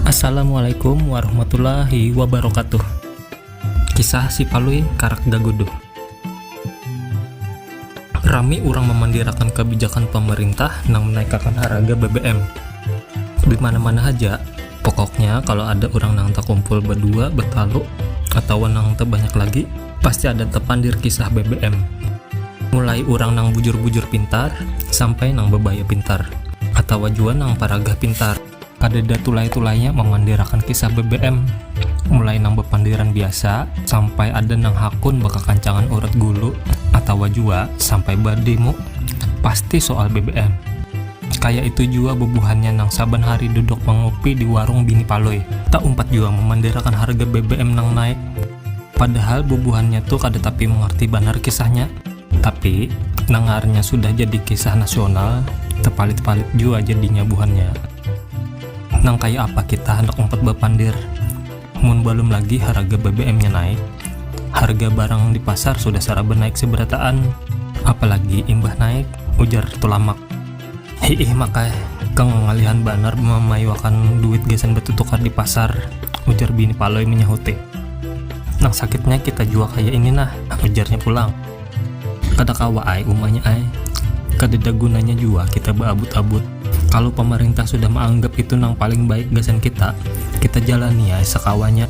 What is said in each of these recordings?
Assalamualaikum warahmatullahi wabarakatuh Kisah si Palui karak gaguduh Rami urang mamandirakan kabijakan pamarintah nang menaikakan haraga BBM di mana-mana haja pokoknya kalau ada urang nang takumpul badua, batalu, atawa nang tabanyak lagi pasti ada tepandir kisah BBM. Mulai urang nang bujur-bujur pintar, sampai nang bebaya pintar, atawa jua nang paragah pintar. Kadada tulai-tulainya mamandirakan kisah BBM, mulai nang bepandiran biasa, sampai ada nang hakun bakakancangan urat gulu, atawa jua sampai bademo, pasti soal BBM. Kaya itu jua bubuhannya nang saban hari duduk mangupi di warung bini Palui, taumpat jua mamandirakan harga BBM nang naik. Padahal bubuhannya tu kada tapi mangarti banar kisahnya, tapi nangaarnya sudah jadi kisah nasional, tapalit-palit jua jadinya buhannya. Nang kaya apa kita handak umpat bapandir, mun balum lagi haraga BBM-nya naik, harga barang di pasar sudah saraba naik sabarataan, apalagi imbah naik, ujar Tulamak. Hiih maka ikang ngalihan banar mamaiwakan duit gasan batutukar di pasar, ujar bini Palui manyahuti. Nang sakitnya kita jua kaya ini nah, ujarnya pulang. Kada kawa ai umanya ai, kadada gunanya jua kita baabut-abut. Kalu pamarintah sudah maanggap itu nang paling baik gasan kita, kita jalani ai sakawanya,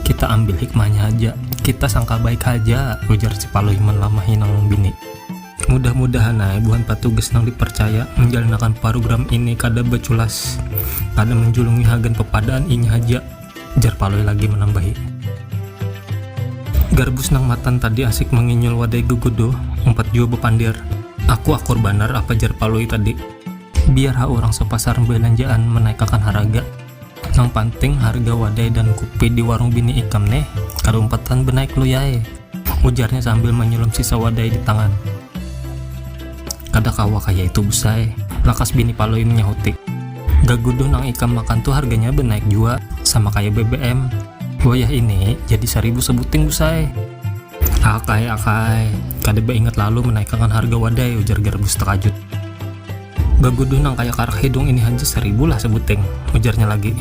kita ambil hikmahnya haja, kita sangka baik haja, ujar si Palui manlamahi nang bini. Mudah-mudahan ae buhan patugas nang diparcaya manjalanakan parugram ini kada baculas, kada manjulungi hagan papadaan ini haja, jar Palui lagi manambahi. Garbus nang matan tadi asik manginyul wadai Gugudo, umpat jua bapandir. Aku akur banar apa jar Palui tadi. Biar ha urang sapasar balanjaan manaikakan haraga. Nang panting harga wadai dan kupi di warung bini ikam ne kada umpatan benaik lui ae, ujarnya sambil manyulam sisa wadai di tangan. Kada kawa kaya itu bus ae, lakas bini Palui manyahuti. Gaguduh nang ikam makan tu harganya benaik jua, sama kaya BBM. Wayah ini jadi saribu sabuting bus ae. Akai, akai, kada baingat lalu menaikakan harga wadai, ujar Garbus takajut. Baguduh nang kaya karak hidung ini haja saribu lah sabuting, ujarnya lagi.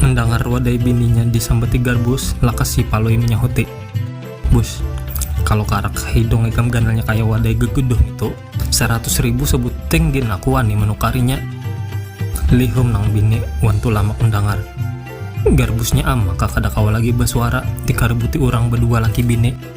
Mendangar wadai bininya disambati Garbus, lakas si Palui manyahuti, Bus, kalu karak hidung ikam ganalnya kaya wadai gaguduh ngitu, Saratus ribu sabuting gin aku wani manukarinya. Lihum nang bini wan Tulamak mandangar. Garbusnya am maka kada kawa lagi basuara dikaributi urang badua laki bini.